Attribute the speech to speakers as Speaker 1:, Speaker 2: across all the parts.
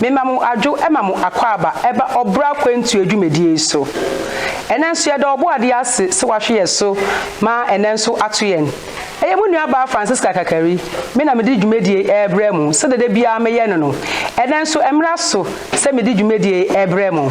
Speaker 1: Mema mo adwo ma mo akwaaba ɛba ɔbra akwantuo dwumadie yi so. Ɛnɛ nso yɛda Ɔbɔadeɛ ase sɛ wahwe yɛ so ma ɛnɛ nso ato yɛn. Ɛyɛ mo nua baa Francisca Kakari, me na mede dwumadie yi ɛrebrɛ mo sɛdeɛ da biara meyɛ no no. Ɛnɛ nso ɛmmra so sɛ mede dwumadie yi ɛrebrɛ mo.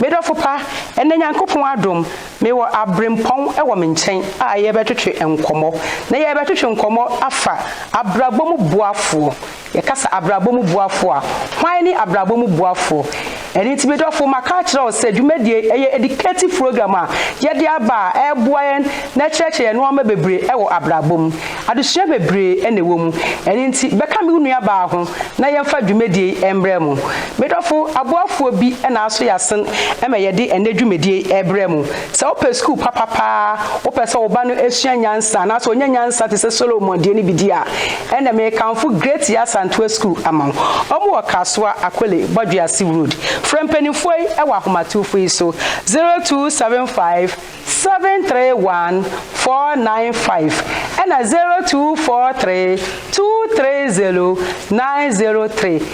Speaker 1: Me dɔfo pa, ɛnɛ Nyankopɔn adom, mewɔ abrempɔn wɔ me nkyɛn a yɛrebɛtwetwe nkɔmmɔ. Na yɛrebɛtwetwe nkɔmmɔ afa abrabɔ mu boafoɔ. Yɛka sɛ abrabɔ mu boafo a, hwan ne abrabɔ mu boafo? Ɛno nti, me dɔfo, maka akyerɛ wo sɛ dwumadie yi yɛ educative program a yɛde aba a ɛreboa yɛn na ɛkyerɛkyerɛ yɛn nnoɔma bebree wɔ abrabɔ mu. Adesua bebree na ɛwɔ mu. Ɛno nti, bɛka me wo nuabaa ho na yɛmfa dwumadie yi mmrɛ mo. Me dɔfo, aboafoɔ bi na aso yɛ asen ma yɛde ɛnnɛ dwumadie yi rebrɛ mo. Sɛ wopɛ sukuu papa paa, wopɛ sɛ wo ba no sua nyansa anaasɛ ɔnya nyansa te sɛ Solomon deɛ no bi di a, ɛnna merekamfo Great Yaa Santoa Sukuu ama wo. Wɔwɔ Kasoa, Akole, Bɔdwease Road. Frɛ mpanimfoɔ yi wɔ ahomatorofoɔ yi so, 0275 731 495 ɛnna 0243 230 903.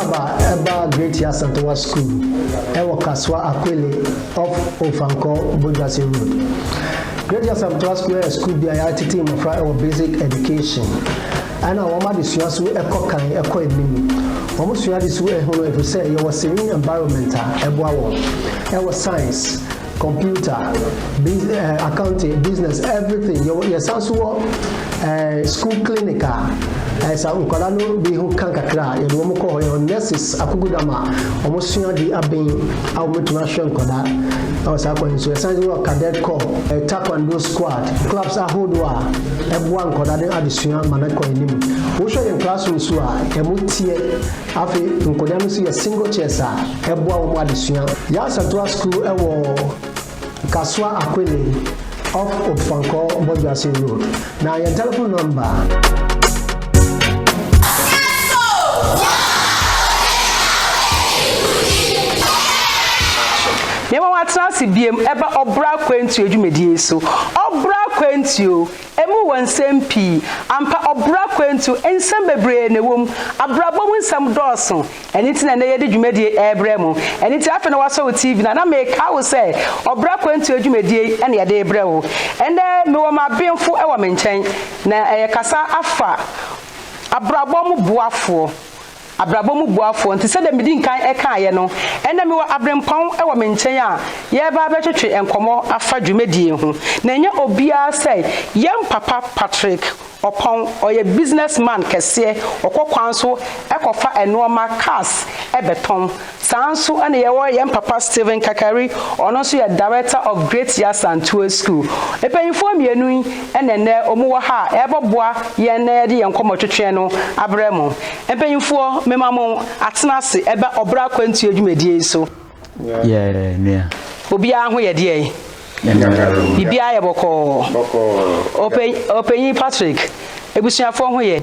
Speaker 2: Aba ɛbaa Great Yasantowa School ɛwɔ Kasoa Akwele off Ofankor Bodwase Road. Great Yasantowa School ɛyɛ school bi a yɛatete mmɔfra ɛwɔ basic education ɛna wɔn adesua so ɛkɔ kan ɛkɔ anim. Wɔn sua ade so ɛhunu ɛfiri sɛ yɛwɔ serene environment a ɛboa wɔn ɛwɔ science, Computer, biz eh, accounting, business, everything. Yɛwɔ yɛsan so wɔ eh, school clinic a eh, sa nkwadaa no bi ho ka kakra a yɛde wɔn kɔ hɔ. Yɛwɔ nurses akokodam a wɔsua de aben a wɔbɛtumi ahwɛ nkwadaa ɛwɔ saa kwan so. Yɛsan so wɔ cadet corps, eh, taekwondo squad, clubs ahodoɔ a ɛboa nkwadaa no adesua ma no kɔ anim. Wohwɛ yɛn classroom so a ɛmu teɛ Afei nkɔdaa no nso yɛ single chairs a ɛboa wɔn adesua. Yasantoa School wɔ Kasoa Akwene off Opfankor Bɔdwoase Road. Na yɛn telephone number.
Speaker 1: Yɛma wɔatena ase biom ɛba ɔbra akwantuo dwumadie yi so. Ɔbra akwantuo. Emu wɔ nsɛm pii. Ampa, ɔbra akwantu, nsɛm bebree na ɛwɔ mu. Abrabɔ mu nsɛm dɔɔso. Ɛno nti na nnɛ yɛde dwumadie yi rebrɛ mo. Ɛno nti afei na woasɔ wo TV no a, na mekae wo sɛ Ɔbra Akwantuo adwumadie yi na yɛde rebrɛ wo. Ɛnnɛ mewɔ m'abenfo wɔ me nkyɛn, na yɛkasa afa abrabɔ mu boafoɔ abrabɔ mu boafoɔ nti sɛdeɛ medi nkan kaeɛ no, ɛnnɛ mewɔ aberempɔn wɔ me nkyɛn a yɛreba abɛtwetwe nkɔmmɔ afa dwumadie ho. Na ɛnyɛ obiara sɛ yɛn papa Patrick Opong, ɔyɛ business man kɛseɛ, ɔkɔ kwan so kɔfa nnoɔma, cars, bɛtɔn. Saa nso na yɛwɔ yɛn papa Stephen Kakari, ɔno nso yɛ Director of Great Yasa Ntoa School. Mpanyimfoɔ mmienu yi na ɛnnɛ wɔwɔ ha a ɛrebɛboa yɛn na yɛde yɛn nkɔmmɔtwetweɛ no abrɛ mo. Mpanyimfoɔ, mema mo atena ase ɛba ɔbra akwantuo dwumadie yi so. Yɛɛ
Speaker 3: nua. Obiara ho yɛ
Speaker 1: deɛn? Biribiara yɛ bɔkɔɔ. Ɔpanyin Patrick, abusuafoɔ ho yɛ?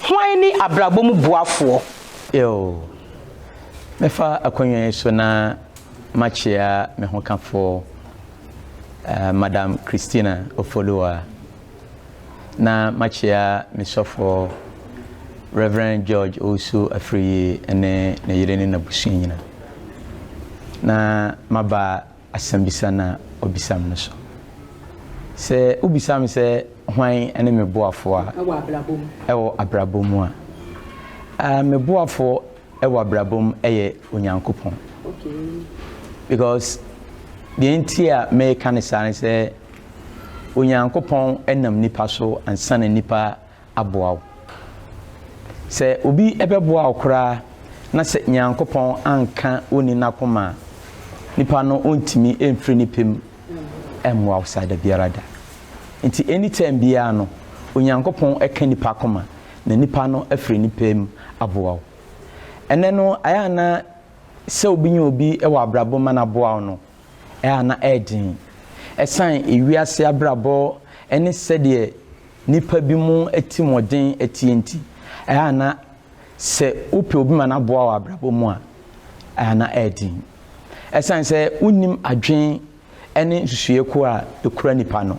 Speaker 1: Hwan ne abrabɔ mu boafoɔ? Eo.
Speaker 3: Mɛfa akonnwa yi so na makyea me hokafoɔ, Madam Christina Ofoluwa, na makyea me sɔfoɔ, Rev. George Owusu Afriyie ne ne yere ne n'abusua nyinaa, na maba asɛmmisa no a ɔbisa me no so. Sɛ wobisa me sɛ hwan ne me boafoɔ a wɔ abrabɔ mu a, me boafoɔ wɔ abrabɔ mu yɛ Onyankopɔn. Because deɛ nti a meka no saa ne sɛ Onyankopɔn nam nipa so ansa na nipa aboa wo. Sɛ obi bɛboa wo koraa na sɛ Nyankopɔn anka onni n'akoma a, nipa no ontumi mfiri ne pɛ mu mmoa wo saa dabiara da. Nti any time biara no, Onyankopɔn ka nipa akoma na nipa no afiri ne pɛ mu aboa wo. Ɛnnɛ no, ɛyɛ a na sɛ obi nya obi wɔ abrabɔ mu ma no aboa wo no, ɛyɛ a na ɛyɛ den. Ɛsan ewiase abrabɔ ne sɛdeɛ nnipa binom atirimɔden atie nti, ɛyɛ a na sɛ wopɛ obi ma no aboa wo wɔ abrabɔ mu a, ɛyɛ a na ɛyɛ den. Ɛsiane sɛ wonnim adwene ne nsusuiɛ ko a ɛkura nipa no.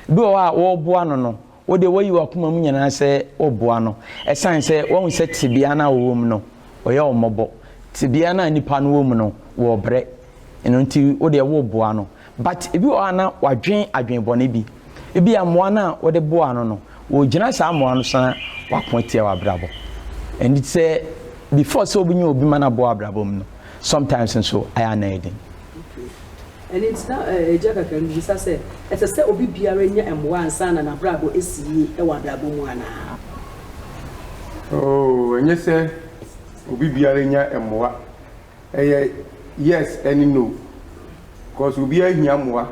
Speaker 3: Bi wɔ hɔ a wɔreboa no no, wo deɛ woayi w'akoma mu nyinaa sɛ woreboa no. Ɛsiane sɛ woahu sɛ tebea no a ɔwɔ mu no, ɔyɛ wo mmɔbɔ. Tebea no a nipa no wɔ mu no, wɔrebrɛ. Ɛno nti wo deɛ woreboa no. But ebi wɔ hɔ a na wadwen adwen bɔne bi. Ebia mmoa no a wode boaa no no, ɔregyina saa mmoa no so na wako atia w'abrabɔ. Ɛnti sɛ before sɛ wobɛnya obi ma no aboa w'abrabɔ mu no, sometimes nso ayɛ a na ɛyɛ den. Okay. Ɛno nti
Speaker 1: na agya kakra no bisa sɛ, ɛsɛ sɛ obi biara nya mmoa ansa na n'abrabɔ asi yie wɔ
Speaker 4: abrabɔ mu anaa? Oh, ɛnyɛ sɛ obi biara nya mmoa Ɛyɛ yes ɛne no cause obiara hia mmoa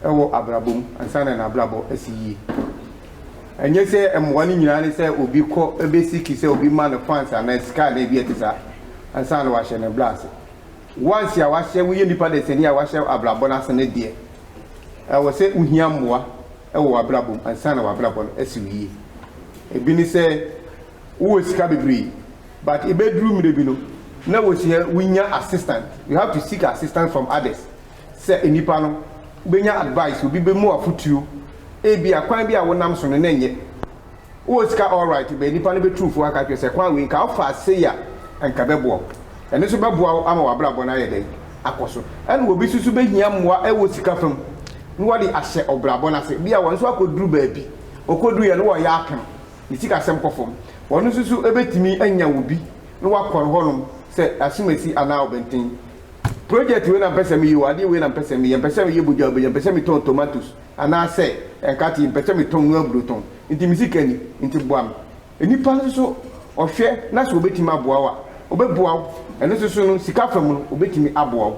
Speaker 4: ɛwɔ abrabɔ mu ansa na n'abrabɔ asi yie. Ɛnyɛ sɛ mmoa no nyinaa ne sɛ obi kɔ ɛbɛ seek sɛ obi ma no funds anaa sika anaa biribi a ɛte saa ansa na wahyɛ ne bra ase. Once a wahyɛ woyɛ nipa dasani a wahyɛ abrabɔ no ase no deɛ ɛwɔ sɛ wohia mmoa ɛwɔ w'abrabɔ mu ansa na w'abrabɔ no asi wo yie. Ɛbi ne sɛ. wowɔ sika bebree but ebeduru mmere bi no na wosua wunya assistant you have to seek assistant from others sɛ nnipa no wobenya advice obi bɛmu afotuo ebia kwan bi a wonam so no na ɛnyɛ wowɔ sika alright bɛ nnipa no bɛtu fo aka kyerɛ sɛ kwan wei nka wofa sei a nka bɛboa wo ɛno nso bɛboa wo ama w'abrabɔ no ayɛ dɛn akɔ so ɛna obi nso so bɛhia mmoa ɛwɔ sika fam na wɔde ahyɛ ɔbrabɔ no ase bia wɔn nso akɔduru baabi wɔkɔduruiɛ no wɔyɛ apem ne sikasɛm kɔ fam. Wɔn nso so bɛtumi anya obi na wakɔre hɔnom sɛ asomasi anaa ɔbɛnten. Project wei na mpɛ sɛ meyɛ o, adeɛ wei na mpɛ sɛ meyɛ, mpɛ sɛ meyɛ bogya bogya, mpɛ sɛ metɔn tomatoes anaa sɛ nkate, mpɛ sɛ metɔn noa aburo tɔn, nti me sika ni, nti boa me. Nnipa nso so ɔhwɛ na sɛ ɔbɛtumi aboa wo a, ɔbɛboa wo. Ɛno nso so no, sika fam no, ɔbɛtumi aboa wo.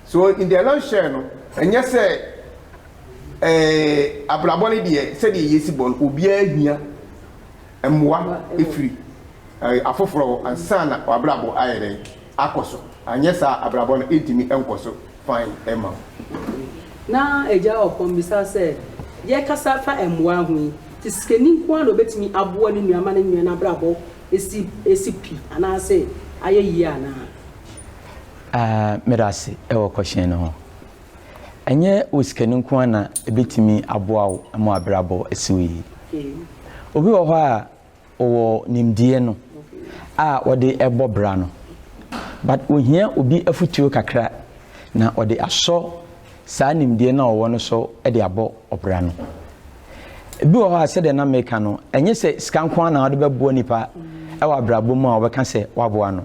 Speaker 4: So in the nutshell no, ɛnyɛ sɛ Eeii abrabɔ no deɛ sɛdeɛ yɛsi bɔ no obiara hia mmoa firi afoforɔ hɔ ansa na w'abrabɔ ayɛ dɛn akɔ so anyɛ saa a abrabɔ no ntumi nkɔ so fann mma wo. Na
Speaker 1: Agya Ɔkɔm bisa sɛ, Yɛkasa fa mmoa ho yi, te sikani nko ara na ɔbɛtumi aboa ne nua ma ne nua no abrabɔ asi asi pi anaase ayɛ yie anaa? Aah, meda
Speaker 3: ase wɔ kɔhyen no ho. Ɛnyɛ wo sika no nko ara na ebetumi aboa wo ma w'abrabɔ asiw yiye. Obi wɔ hɔ a ɔwɔ nimdeɛ no a ɔde rebɔ bra no, but ohia obi afotuo kakra na ɔde asɔ saa nimdeɛ no a ɔwɔ no so de abɔ ɔbra no. Ebi wɔ hɔ a sɛdeɛ na meka no, ɛnyɛ sɛ sika nko ara na wode bɛboa nipa wɔ abrabɔ mu a ɔbɛka sɛ woaboa no.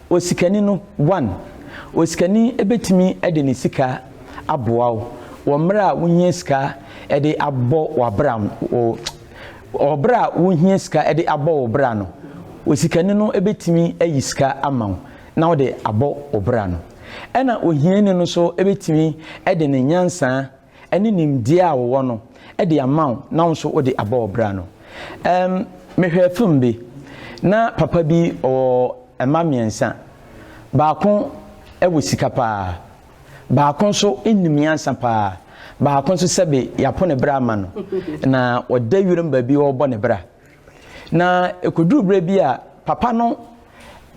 Speaker 3: Osikani no, One, Osikani bɛtumi de ne sika aboa wo wɔ mmerɛ a wohia sika de abɔ w'abra wo wɔ berɛ a wohia sika de abɔ wo bra no, osikani no bɛtumi ayi sika ama wo na wode abɔ wo bra no. Ɛna ohiani no nso bɛtumi de ne nyansa ne nimdeɛ a wowɔ no de ama wo na wo nso wode abɔ wo bra no. Um, mehwɛɛ film bi. Na papa bi ɔwɔ mma mmiɛnsa. Baako wɔ sika paa. Baako nso nim nyansa paa. Baako nso sɛbe yɛapo ne bra ama no. Na ɔda wiram baabi ɔrebɔ ne bra. Na ɛkɔduruu berɛ bi a papa no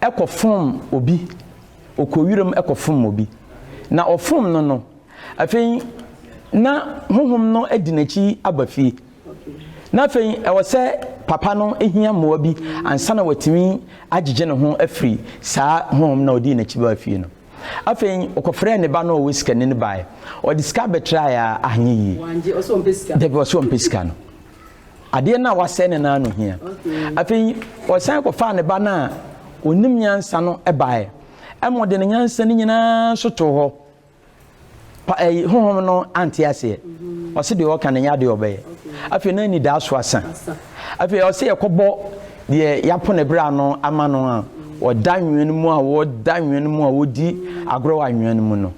Speaker 3: kɔfom obi, ɔkɔɔ wiram kɔfom obi. Na ɔfom no no, afei na honhom no adi n'akyi aba fie. Na afei ɛwɔ sɛ papa no hia mmoa bi ansa na watumi agyegye ne ho afiri saa honhom no a ɔdii n'akyi baa fie no. Afei ɔkɔfrɛɛ ne ba no a ɔwɔ sikani no baeɛ. Ɔde sika bɛtraeɛ a anyɛ yie.
Speaker 1: Dabi ɔse ɔmpɛ sika no.
Speaker 3: Adeɛ no a wasɛe no no ara na ohia. Afei ɔsan kɔfaa ne ba no a onim nyansa no baeɛ, ɛma ɔde ne nyansa no nyinaa so too hɔ. Pa ɛyi honhom no ante aseɛ. Mm-hmm. Ɔse deɛ ɔka no nyɛ adeɛ ɔbɛyɛ. Afei na anidaa so asa. Afei ɔse yɛkɔbɔ deɛ yɛapo ne bra no ama no a ɔda nwene mu a wɔda nwene mu a wɔdi agorɔ wɔ anwea no mu no.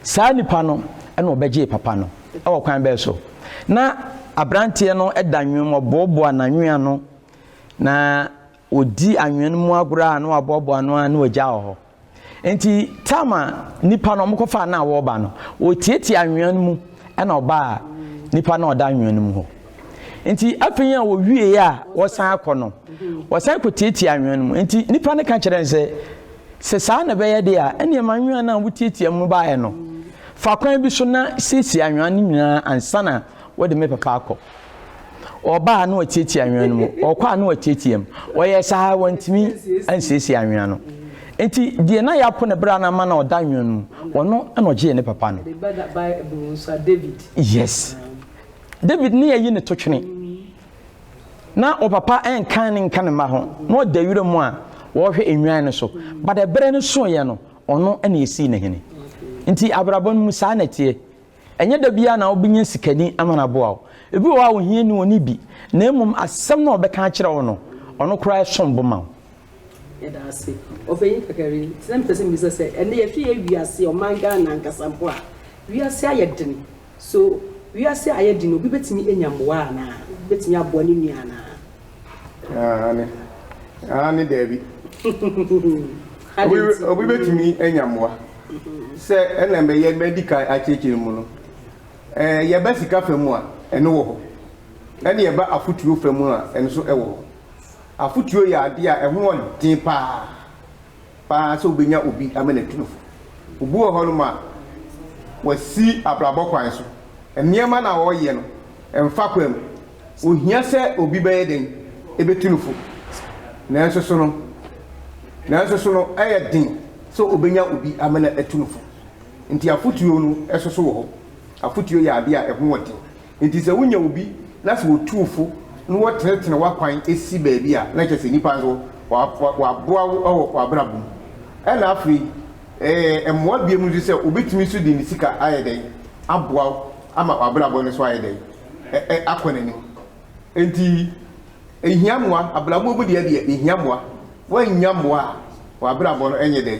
Speaker 3: Saa nipa no na ɔbɛgyee papa no. Wɔ kwan bɛn so? Ná aberanteɛ no da nnwom, ɔboaboa n'anwea ano, na ɔdi anwea no mu agorɔ a na waboaboa ano ara na wagya wɔ hɔ. Enti Tamar nipa no wɔkɔfaa no a wɔreba no, ɔtiatia anwea no mu na ɔbaa nipa no a ɔda anwea no mu hɔ. Nti afei a wɔwie a wɔsan akɔ no, wɔsan kɔtiatia anwea no mu. Nti nnipa no ka kyerɛ no sɛ, sɛ saa na ɛbɛyɛ deɛ a, ɛnneɛ ma anwea no a wotiatia mu baeɛ no, fa kwan bi so na siesie anwea no nyinaa ansa na wode me papa akɔ. Ɔbaa na watiatia anwea no mu, ɔkɔ a na watiatia mu. Ɔyɛɛ saa wantumi ansiesie anwea no. Nti deɛ na yɛapo ne bra no ama na ɔda anwea no mu, ɔno na ɔgyee ne papa no. Yes. David ne ayi ne totwene. Na ɔpapa nkan ne nka ne mma ho, na ɔda wira mu a wɔrehwɛ nnwan no so. But ɛberɛ no soeɛ no, ɔno na yɛsii no hene. Nti abrabɔ no mu saa na ɛteɛ. Ɛnyɛ da biara na wobɛnya sikani ama no aboa wo. Ebi wɔ hɔ a ohia ni ɔnni bi, na mmom asɛm no a ɔbɛka akyerɛ wo no, ɔno koraa ɛsom bo ma wo. Yɛda ase.
Speaker 1: Ɔpanyin Kakari, nti na mepɛ sɛ mebisa sɛ, ɛnnɛ yɛhwɛ yɛn wiase, ɔman Ghana ankasa mpo a, wiase ayɛ den. So wiase a ayɛ den no, obi betumi anya mmoa anaa? Obetumi aboa ne nua anaa?
Speaker 4: Aane. Aane, Dabi. Adɛn nti? Obi betumi anya mmoa. Sɛ ɛna mɛyɛ madi kan akyerɛkyerɛ mu no, yɛba sika fa mu a, ɛno wɔ hɔ. Ɛna yɛba afotuo fa mu a, ɛno nso wɔ hɔ. Afotuo yɛ adeɛ a ɛho yɛ den pa ara. paa sɛ wobenya obi ama no atu no fo. Obi wɔ hɔnom a, wasi abrabɔ kwan so. Nneɛma no a ɔreyɛ no, ɛmfa kwa mu. Ohia sɛ obi bɛyɛ dɛn betu no fo. Nanso so no, nanso so no, ɛyɛ den sɛ obenya obi ama no atu no fo. Enti afotu no soso wɔ hɔ. Afotu yɛ ade a ɛho wɔ den. Enti sɛ wonya obi na sɛ otu wo fo na wɔtenetene w'akwan si baabi a, na kyerɛ sɛ nnipa nso wɔaboa wo wɔ w'abrabɔ mu. Ɛnna afei ɛyɛ mmoa bio nso sɛ obetumi nso de ne sika ayɛ dɛn? Aboa wo ama w'abrabɔ no nso ayɛ dɛn? Akɔ n'anim. Enti ehia mmoa. Abrabɔ mu deɛ deɛ, ehia mmoa. Woannya mmoa a, w'abrabɔ no nyɛ dɛn?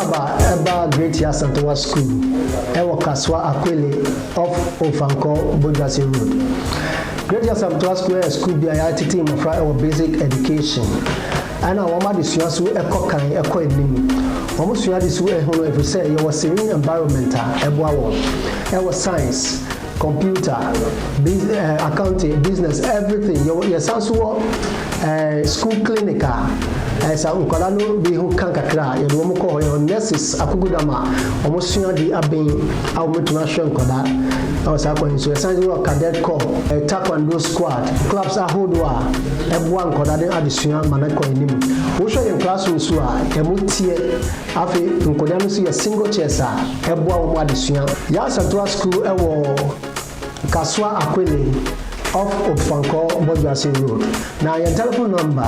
Speaker 2: Aba ɛba Great Yasantowa School ɛwɔ Kasoa Akwele off Ofankor Bodwase Road. Great Yasamtowa School ɛyɛ school bi a yɛatete mmɔfra ɛwɔ basic education ɛna wɔn adesua so ɛkɔ kan ɛkɔ anim. Wɔn sua ade su ɛho no ɛfiri sɛ yɛwɔ serene environment a ɛboa wɔn ɛwɔ science, Computer, biz eh, accounting, business, everything. Yɛwɔ yɛsan so wɔ eh, school clinic a eh, sɛ nkwadaa no bi ho ka kakra a yɛde wɔn kɔ hɔ. Yɛwɔ nurses akokodam a wɔn sua de aben a wɔbɛtumi ahwɛ nkwadaa ɛwɔ saa kwan yi so. Yɛsan so wɔ cadet corps, eh, taekwondo squad, clubs ahodoɔ a ɛboa nkwadaa de adesua ma no kɔ anim. Wohwɛ yɛn classrooms so a ɛmu teɛ. Afei nkɔdaa no nso yɛ single chairs a ɛboa wɔn adesua. Yasantoa School wɔ Kasoa Akwene off Opfankor Bɔdwoase Road. Na yɛn telephone number.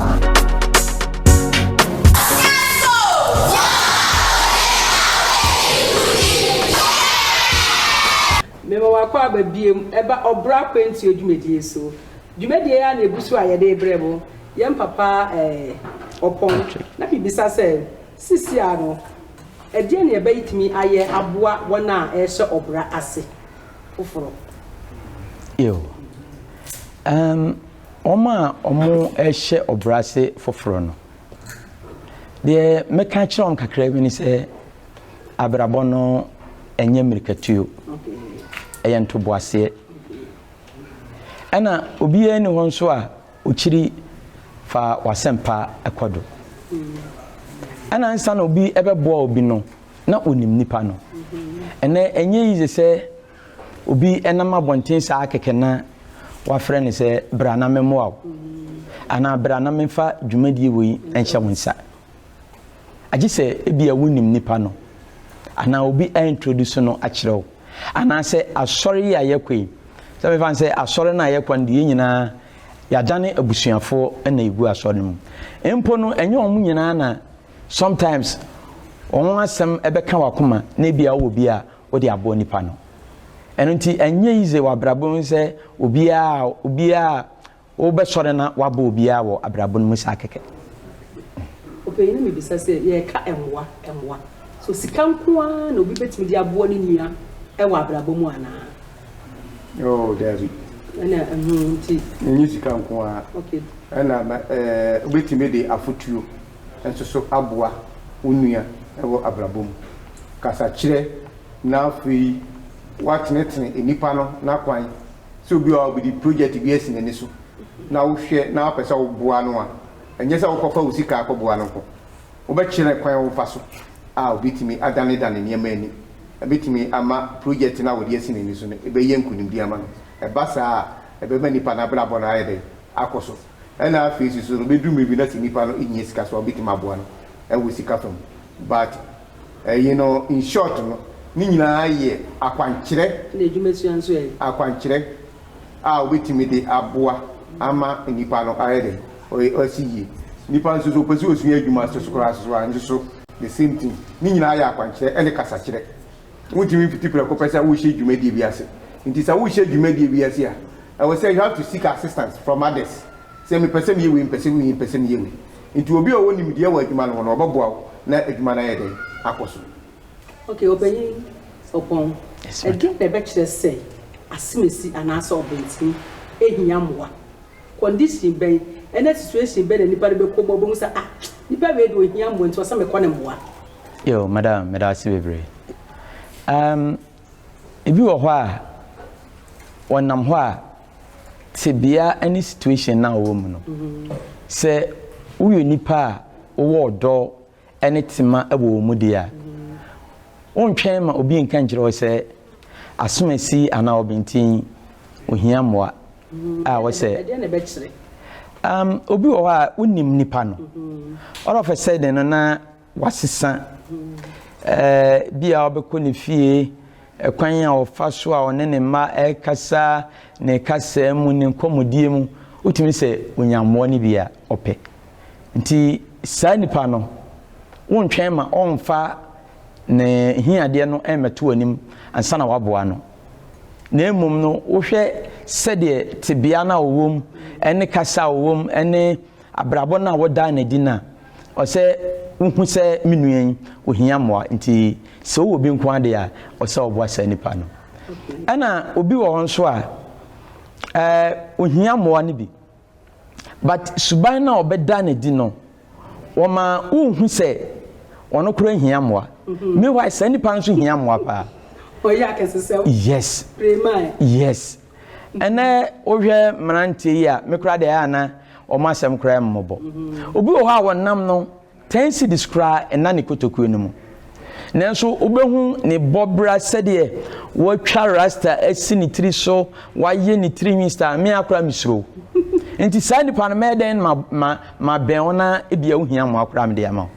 Speaker 1: Mema mo akwaaba biom ɛba ɔbra akwantuo dwumadie so. Dwumadie ya na ɛgu so a yɛde brɛ mo. Yɛn papa ɛɛ ɔpɔn na me bisa sɛ Sesɛa no, ɛdeɛn na yɛbɛtumi ayɛ aboa wɔn a ɛrehyɛ ɔbra ase
Speaker 3: foforɔ? Eo. Um, wɔn a wɔrehyɛ ɔbra ase foforɔ no, deɛ mɛka akyerɛ wɔn kakra bi ne sɛ, abrabɔ no ɛnyɛ mmirikatuo, ɛyɛ ntoboaseɛ. Ɛna obiara ni hɔ nso a Okyiri fa w'asɛmpa kɔ do. Nna ansaana obi bɛboa obi no, na onyim nyimpa no. Ndɛ nnyɛ iyi dze sɛ obi nam abɔnten saa kɛkɛ na wɔafrɛ no sɛ bra na memboa wo anaa bra na memfa dwumadie wei nhyɛ wo nsa. Agye sɛ ebia wonim nipa no anaa obi a introduce no akyerɛ wo. Anaasɛ asɔre yi a yɛkɔ yi, sɛ mefa no sɛ asɔre no a yɛkɔ no de yɛn nyinaa yɛadane abusuafoɔ na yɛgu asɔre no mu. Mpo no, ɛnyɛ wɔn nyinaa na sometimes wɔn ho asɛm bɛka w'akoma na ebia wowɔ bi a wode aboa nipa no. Ɛno nti, ɛnyɛ easy wɔ abrabɔ mu sɛ obiara obiara Wobɛsɔre na woabɔ obiara wɔ abrabɔ no mu saa kɛkɛ.
Speaker 1: Ɔpanyin no mmebisa sɛ, Yɛreka mmoa, mmoa. So sika nko ara na obi betumi de aboa ne nua wɔ abrabɔ mu anaa?
Speaker 4: Oh, dabi.
Speaker 1: Ɛna ɛho nti. Ɛnyɛ sika nko
Speaker 4: ara. Okay. Ɛna wobetumi de afotuo nso so aboa wo nua wɔ abrabɔ mu. Kasakyerɛ na afei woatenetene nnipa no n'akwan Sɛ obi a ɔde projɛte bi asi n'ani so na wohwɛ na wopɛ sɛ woboa no a, ɛnyɛ sɛ wokɔfa wo sika akɔboa no nko. Wobɛkyerɛ kwan a wofa so a obetumi adanedane nneɛma ani. Ebetumi ama projɛte no a ɔde asi n'ani so no bɛyɛ nkonimdi ama no. Ɛba saa a, ɛbɛma nipa no abrabɔ no ayɛ dɛn? Akɔ so. Ɛnna afei nso no, ebedu mmere bi na sɛ nipa no hia sika nso a, wobetumi aboa no wɔ sika fam. But. You know, in short no, ne nyinaa yɛ akwankyerɛ. Ɛna adwumasua nso
Speaker 1: ɛ? Akwankyerɛ
Speaker 4: a wobɛtumi de aboa ama nnipa no ayɛ dɛn? Ɔasi yie. Nnipa nso so, wopɛ sɛ wosua adwuma so so koraa nso so a, nso so the same thing. Ne nyinaa yɛ akwankyerɛ ne kasakyerɛ. Wontumi mfiti prɛko pɛ sɛ worehyɛ dwumadie bi ase. Nti sɛ worehyɛ dwumadie bi ase a, ɛwɔ sɛ you have to seek assistance from others. Sɛ mepɛ sɛ meyɛ wei, mepɛ sɛ meyɛ wei, mepɛ sɛ meyɛ wei. Nti obi a ɔwɔ nimdeɛ wɔ adwuma no ho no, ɔbɛboa wo na adwuma no ayɛ dɛn? Akɔ so. Okay,
Speaker 1: Ɔpanyin Obong, ɛdeɛn na ɛbɛkyerɛ sɛ asemasi anaasɛ ɔbɛntini hia mmoa? Condition bɛn ne situation bɛn na nipa no bɛkɔ mu a ɔbɛhu sɛ, ah, nipa wei deɛ ɔhia mmoa nti ɛwɔ sɛ mekɔ no mmoa? Yo, madam,
Speaker 3: meda wo ase bebree. Um. Ebi wɔ hɔ a, wɔnam hɔ a, tebea ne situation no a wɔwɔ mu no, sɛ woyɛ nipa a wowɔ ɔdɔ ne tema wɔ wɔn mu deɛ a, wontwɛn ma obi nka nkyerɛ wo sɛ asomasi anaa ɔbenten ohia mmoa a wɔsɛ. Um, obi wɔ hɔ a wonim nipa no. All of a sudden no na wasesa, ebia ɔbɛkɔ ne fie, ɛkwan a ɔfa so a ɔne ne mma ɛrekasa, ne kasa mu, ne nkɔmmɔdie mu, wotumi sɛ onya mmoa no bi a ɔpɛ. Nti saa nipa no, wontwɛn ma ɔmfa ne hiadeɛ no mmɛto anim ansa na waboa no. Na mmom no, wohwɛ sɛdeɛ tebea no a ɔwɔ mu, ne kasa a ɔwɔ mu, ne abrabɔ no a wodaa no adi no a, Ɔsɛ wohu sɛ me nua yi ohia mmoa nti sɛ ɔwɔ obi nko ara deɛ a ɔsɛ ɔboa saa nipa no. Ɛna obi wɔ hɔ nso a ɛɛ ohia mmoa no bi but suban no a ɔbɛda no adi no wɔma wohu sɛ ɔno koraa hia mmoa. Mhm. Meanwhile saa nipa nso hia mmoa paa. Ɔyɛ akɛse
Speaker 1: sɛ. Yes.
Speaker 3: Premae. Yes. Ɛnnɛ wohwɛ mmeranteɛ yi a, me koraa deɛ ɛyɛ a na wɔn asɛm koraa mmobɔ. Obi wɔ hɔ a wɔnam no, ten cedis koraa nna ne kotokuo no mu. Nanso wobɛhu ne bɔbra sɛdeɛ watwa rasta asi ne tiri so, wayɛ ne tirinwi style, me ara koraa mesuro wo. Nti saa nipa no mɛyɛ dɛn ma ma Ma bɛn wo na ebia wohia mmoa koraa a mede ama wo.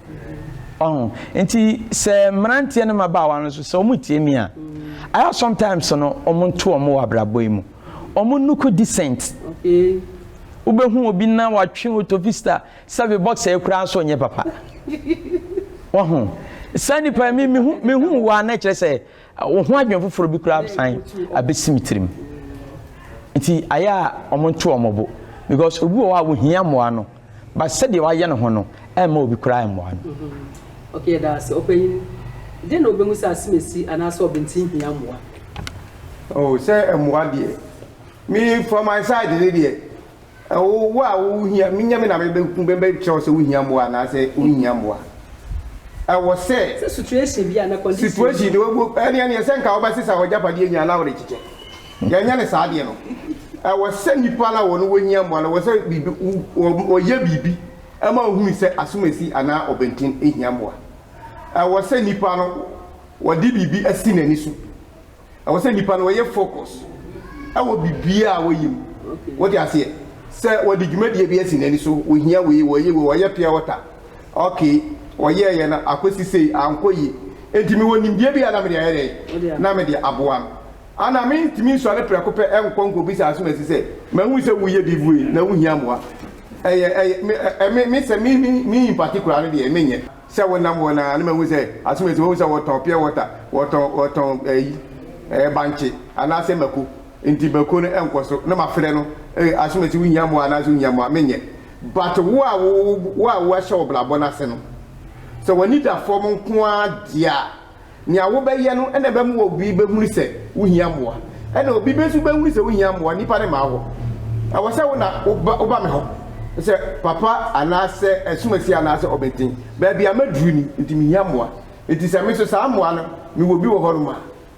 Speaker 3: Ɔho. Nti sɛ mmeranteɛ ne mmabaawa no nso sɛ wɔn tie me a, I have sometimes no wɔn nto wɔn wɔ abrabɔ yi mu. Wɔn look decent.
Speaker 1: Wobɛhu
Speaker 3: obi na watwe otofista sɛbe boxer yi koraa nso nyɛ papa. Ɔho. Saa nipa yi me me hu me hu wɔ a na ɛkyerɛ sɛ Wo ho adwene foforɔ bi koraa asan abɛsi me tirim. Nti ayɛ a wɔnto wɔn bo because obi wɔ hɔ a ohia mmoa no but sɛdeɛ wayɛ ne ho no ɛmma obi koraa mmoa no. Okay, yɛda
Speaker 1: ase. Ɔpanyin, dɛn na obehu sɛ asem asi anaasɛ
Speaker 4: ɔbenten
Speaker 1: hia
Speaker 4: mmoa? Oh,
Speaker 1: sɛ mmoa deɛ, me
Speaker 4: for my side ne deɛ, Wo, wo a wohia, menya me na mebɛku, mɛbɛkyerɛ wo sɛ wohia mmoa anaasɛ wonhia mmoa. Ɛwɔ sɛ. Sɛ
Speaker 1: situation bi anaa condition bi. Situation bi,
Speaker 4: wo, ɛne, ɛne, sɛ nka wobɛsesa w'agyapadeɛ nyinaa na worekyekyɛ. Yɛnyɛ no saa adeɛ no. Ɛwɔ sɛ nnipa no a wɔn wɔhia mmoa no, ɛwɔ sɛ biribi, wo, wɔ, wɔyɛ biribi ma wohunu sɛ asomasi anaa ɔbɛnten hia mmoa. Ɛwɔ sɛ nnipa no, wɔde biribi asi n'ani so. Ɛwɔ sɛ nnipa no wɔyɛ focus wɔ biribiara a wɔyɛ mu. Wote aseɛ? Sɛ wɔde dwumadie bi asi n'ani so, wɔhia wei, wɔyɛ wei, wɔyɛ pure water, okay, wɔyɛɛyɛ no akɔsi sei, ankɔ yie. Enti mewɔ nimdeɛ bi a na mede ayɛ dɛn? Na mede aboa no. Ana mentumi nsɔre prɛko pɛ nkɔ nkɔbisa asomasi sɛ, Mahu sɛ woreyɛ biribi wei, na wohia mmoa? Ɛyɛ, ɛyɛ, me, me, me, sɛ me, me, me in particular no deɛ, menyɛ. Sɛ wo nam hɔ no a na mahu sɛ asomasi mahu sɛ wɔtɔn pure water wɔtɔn wɔtɔn ɛyi ɛɛ bankye anaasɛ mako nti mako no ɛnkɔ so na mafrɛ no ee asomasi wo hia mmoa anaasɛ wo hia mmoa me nyɛ but wo a wo wo a wo ahyɛ ɔbrabɔ no ase no sɛ w'ani da fam nko ara deɛ a Nea wobɛyɛ no na ɛbɛma obi bɛhunu sɛ wohia mmoa. Ɛnna obi bi nso bɛhunu sɛ wohia mmoa, nnipa no mmaa hɔ. Ɛwɔ sɛ wo na woba woba me hɔ sɛ papa anaasɛ asumasie anaasɛ ɔbenten. Baabi a maduru ni, nti mehia mmoa. Enti sɛ me nso saa mmoa no, mewɔ bi wɔ hɔnom a,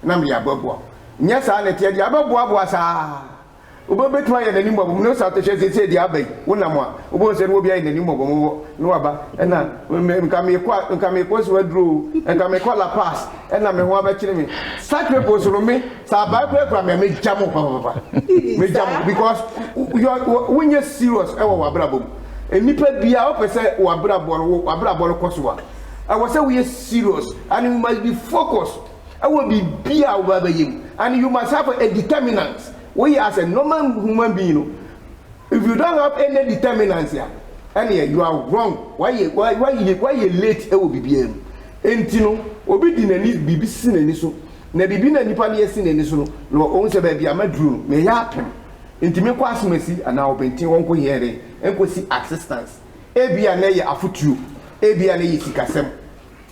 Speaker 4: na mede abɛboa wo. Nyɛ saa na ɛteɛ deɛ, abɛboaboa saa ara. Wobɛtumi ayɛ no animmɔbɔ ne saa atɛhyɛ seesei deɛ aba yi, wonam a, wobɛhu sɛ na obi ayɛ no animmɔbɔ mo hɔ na waba, ɛna nka meekɔ a, nka meekɔ Asuwa Aduro o, nka meekɔ La Paz, ɛna me ho abɛkyere me. Such people so no me, sɛ abae koraa kura me a, mɛgya mo papapapa. Mɛgya mo because wonyɛ serious wɔ w'abrabɔ mu. Nnipa biara wopɛ sɛ w'abrabɔ no, w'abrabɔ no kɔ so a, ɛwɔ sɛ woyɛ serious and you must be focused. wɔ biribi a wobɛba abɛyɛ mu and you must have a determinant. Woyɛ as a normal human being no, if you don't have any determinant a, ɛneɛ you are wrong. Wayɛ, wayɛ, wayɛ late wɔ biribiara mu. Enti no, obi de n'ani, biribi si n'ani so, na biribi no a nipa no yɛ si n'ani so no, na ɔhu sɛ baabi a maduru no, meyɛ apem. Enti menkɔ Asomasi anaa Ɔbɛnten hɔ nkɔ hia dɛn? Nkɔsi assistance. Ebia na ɛyɛ afotuo, ebia na ɛyɛ sikasɛm.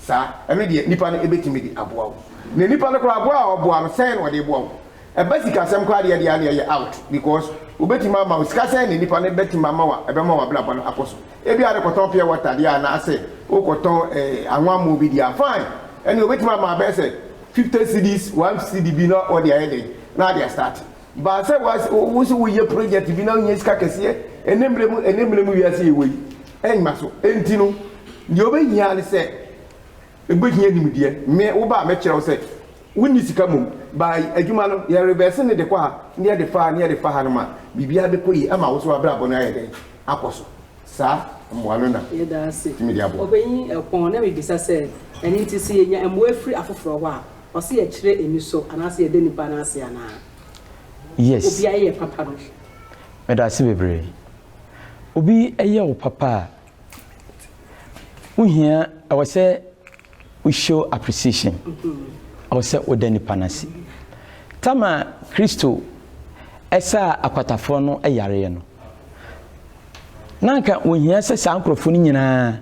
Speaker 4: saa, ɛno deɛ nipa no bɛtumi de aboa wo. Na nipa no koraa boa a ɔboa no, sɛn na ɔde boa wo? Ɛba sikasɛm koraa deɛ ɛdeɛ a na ɛyɛ out because wɔbɛtumi ama wo sika sɛn na nipa no bɛtumi ama wo a ɛbɛma w'abrabɔ no akɔ so. Ebia ne kɔtɔn pure water deɛ anaasɛ wokɔtɔn eh, anwammoo bi deɛ a, fine. Ɛne wɔbɛtumi ama abɛyɛ sɛ 50 cedis, 1 cedi bi na ɔde ayɛ dɛn na ade astart. Baa sɛ wo nso woyɛ project bi na wonya sika kɛseɛ, ɛnɛ mmerɛ mu ɛnɛ mmerɛ mu wiase yɛwɔ yi, Ɛmma so. Enti no, deɛ wobɛhia ara ne sɛ wobɛhia nimdeɛ. Me, wo ba a, mɛkyerɛ wo sɛ wonni sika mmom. By adwuma no, yɛ revɛse no de kɔ ha, na yɛde fa ha, na yɛde fa ha no ma biribiara bɛkɔ yie, ama wo nso w'abrabɔ no ayɛ dɛn? Akɔ so. Saa mmoa no na ɛtumi de
Speaker 1: aboa. Ɔpanyin
Speaker 4: Ɛpɔn, na mebisa
Speaker 1: sɛ, Ɛno nti, sɛ yɛnya mmoa firi afoforɔ hɔ a, ɔse yɛkyerɛ anisɔ anaasɛ yɛda nnipa no ase anaa?
Speaker 3: Yes. Obiara yɛ papa
Speaker 1: no. Meda
Speaker 3: ase bebree. obi yɛ wo papa a, wo hia, ɛwɔ sɛ wo show appreciation. Ɛwɔ sɛ woda nipa no ase. Tam a Kristo ɛsaa akwatafoɔ no yareɛ no, na anka wɔhia sɛ saa nkurɔfoɔ no nyinaa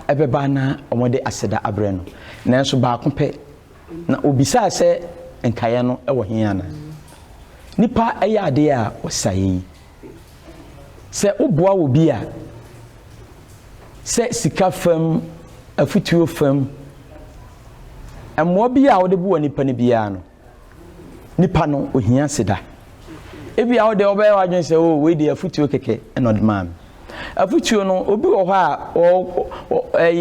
Speaker 3: ɛbɛba na wɔde aseda abrɛ no. Nanso baako pɛ na obisaa sɛ nkaeɛ no wɔ he anaa? Nipa ɛyɛ adeɛ a ɔsaeɛ yi. Sɛ woboa obi a, sɛ sika fam, afotuo fam, mmoa biara a wode boa nipa no biara no, nipa no ohia ase da. Ebia wo deɛ wobɛyɛ w'adwene sɛ o oh, wei deɛ afotuo kɛkɛ na ɔde maa me. Afotuo no obi wɔ hɔ a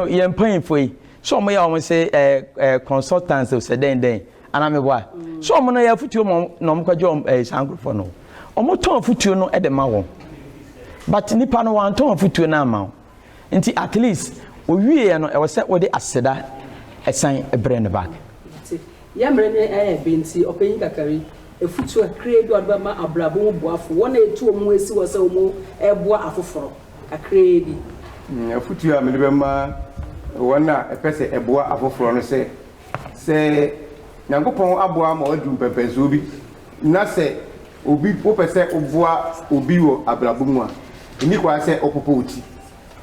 Speaker 3: yɛn mpanyinfoɔ yi sɛ wɔn yɛ wɔn sɛ consultants sɛ dɛn dɛn. Anaa me boa? So wɔn no yɛ afutuo ma wɔn na wɔn kɔgye wɔn ɛɛ saa nkorɔfoɔ no? Wɔn tɔn afutuo no de ma wɔn. But nipa no wɔn antɔn afutuo no ama wɔn. Nti at least owie yɛ no ɛwɔ sɛ wode aseda ɛsan ɛbrɛ no back. Mate. Yɛ mmerɛ
Speaker 1: no yɛ ɛyɛ den nti ɔpanyin kakari afutuo kakraa bi a wɔde bɛma abrabɔ mu boafo wɔn a yɛtu wɔn ɛsi hɔ sɛ wɔn ɛboa afoforɔ kakraa bi. Afutuo
Speaker 4: a mede bɛma wɔn a ɛpɛ sɛ ɛboa afoforɔ no sɛ. Sɛ Nyankopɔn aboa ma w'adu mpɛmpɛnsoɔ bi, na sɛ obi wopɛ sɛ woboa obi wɔ abrabɔ mu a, nni kwan sɛ wopopo wo ti.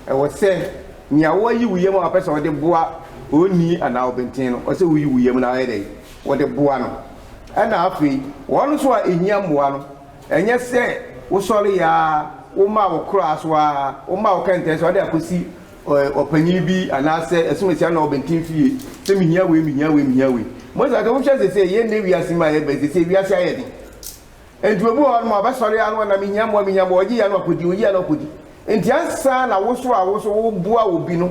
Speaker 4: Ɛwɔ sɛ nea woayi wo yam a wopɛ sɛ wode boa onii anaa ɔbenten no, ɛwɔ sɛ woyi wo yam na woyɛ dɛn? Wode boa no. Ɛna afei wɔn nso a ɛhia mmoa no, ɛnyɛ sɛ wosɔreeɛ ara, womaa wo koraa so ara, womaa wo kɛntɛn so ara de akɔsi ɔpanyin bi anaasɛ ɛsom asia na ɔbɛnten fie sɛ mehia wei mehia wei mehia wei mo sɛ wohwɛ sɛ sɛ yɛn nnɛ wiase mu a yɛbɛ sɛ sɛ wiase ayɛ den nti obi wɔ hɔ nom a ɔbɛsɔre ano na mehia mmoa mehia mmoa ɔgye yɛ no akɔdi ɔgye yɛ no akɔdi nti ansa na woso a woso woboa obi no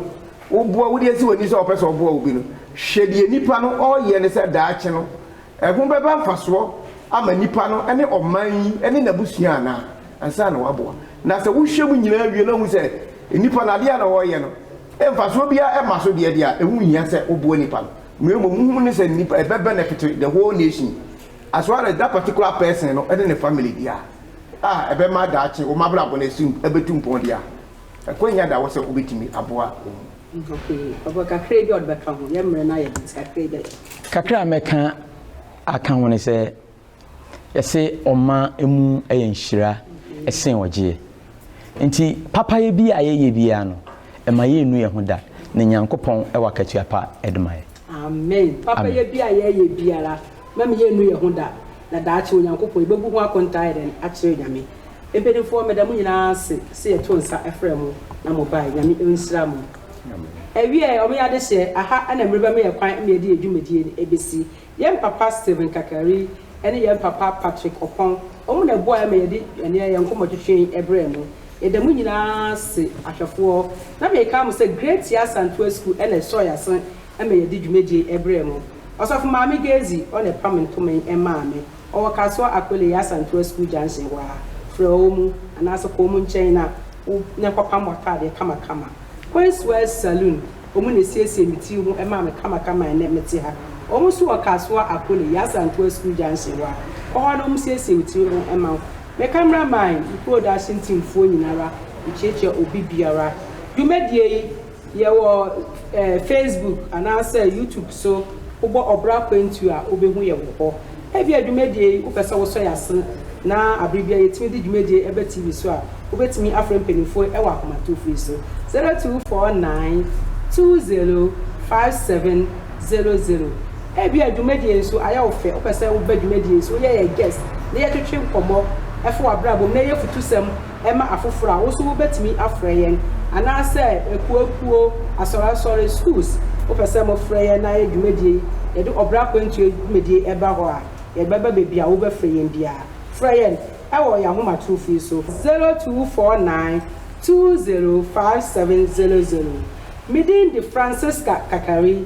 Speaker 4: woboa wode asi w'ani sɛ ɔpɛ sɛ ɔboa obi no hwɛ deɛ nipa no ɔyɛ ne sɛ daakye no ɛho bɛba mfasoɔ ama nipa no ne ɔman yi ne n'abusua anaa ansa na waboa. Na sɛ wohwɛ mu nyinaa wie na wohu sɛ nnipa no adeɛ a na wɔreyɛ no mfasoɔ biara mma so deɛ deɛ a, ɛho nhia sɛ woboa nnipa no. Na mmom wo hu ne sɛ nnipa, ɛbɛ benefit the whole nation as well as that particular person no ne ne family deɛ a, a ɛbɛma daakye wɔn abrabɔ no asi, abɛtu mpɔn deɛ a, akwanya da hɔ sɛ wobɛtumi aboa wɔn. Okay, ɔpɛ kakraa bi a ɔde bɛka ho,
Speaker 1: yɛn mmerɛ no ayɛ den nti kakraa bi a yɛbɛka.
Speaker 3: Kakra a mɛka aka ho ne sɛ, Yɛse ɔma mu yɛ nhyira sen ɔgyeɛ. Nti papayɛ bi a yɛyɛ biara no, ɛma yɛnnu yɛn ho da, na Nyankopɔn wɔ akatua pa de ma yɛn. Amen.
Speaker 1: Papayɛ bi a yɛyɛ biara, mɛma yɛnnu yɛn ho da, na daakye Onyankopɔn, yɛbɛbu ho akontaa ayɛ dɛn akyerɛ Nyame. Mpaninfoɔ, meda mo nyinaa ase sɛ yɛto nsa frɛɛ mo na mo baeɛ. Nyame nhyira mo. Awieɛ, wɔyɛ adehyeɛ, aha na mmerɛ bɛma yɛn kwan ma yɛde yɛn dwumadie no bɛsi. Yɛn papa Stephen Kakari ne yɛn papa Patrick Opong, wɔn na ɛboaeɛ ma yɛde ɛneɛ yɛn nkɔmmɔtwetwe yi brɛɛ mo. Yɛda mo nyinaa ase ahwɛfoɔ. Na meka mo sɛ Great Tiaa Santoa School na ɛsɔɔ yɛn ase ma yɛde dwumadie yi brɛɛ mo. Ɔsɔfo Maame Gezi, ɔna ɛpam ntoma yi maa me. Ɔwɔ Kasoa Akweleye Asantewa School Junction hɔ ara. Frɛ wɔn anaasɛ kɔ wɔn nkyɛn na wo na kɔpam w'ataadeɛ kamakama. Queenswell Saloon Wɔn na ɛsiesiee me tiri ho maa me kamakama a ɛnnɛ mete ha. Wɔn nso wɔ Kasoa, Akole, Yasa Antoa Sukuu Junction hɔ a, kɔ hɔ na wɔsiesie me tiri ho ma wo. Me cameraman, me kuro daahye ntimfoɔ nyinara, mekyerɛkyerɛ obi biara. Dwumadie yi, yɛwɔ eh, Facebook anaasɛ YouTube so, wobɔ Ɔbra Kwantuo a wobɛhu yɛ wɔ hɔ. Ebia dwumadie yi wopɛ sɛ wosɔ yɛn ase na abere biara yɛtumi de dwumadie yi ba TV so a, wobɛtumi afrɛ mpaninfoɔ yi wɔ akomatorofoɔ yi so, 0249 20 5700. Ebia dwumadie yi nso ayɛ wo fɛ, wopɛ sɛ woba dwumadie yi so, woyɛ yɛn guest na yɛtwetwe nkɔmmɔ fa w'abrabɔ mu na yɛyɛ afutusɛm ma afoforo a, wo nso wobɛtumi afrɛ yɛn, anaasɛ akuoakuo, asɔreasɔre, schools, wopɛ sɛ mofrɛ yɛn na yɛ dwumadie yi, yɛde ɔbra akwantuo dwumadie ɛba hɔ a, yɛbɛba baabi a wobɛfrɛ yɛn biara. Frɛ yɛn wɔ yɛn ahomatorofo yi so, zero two four nine two zero five seven zero zero, me din de Francisca Kakari.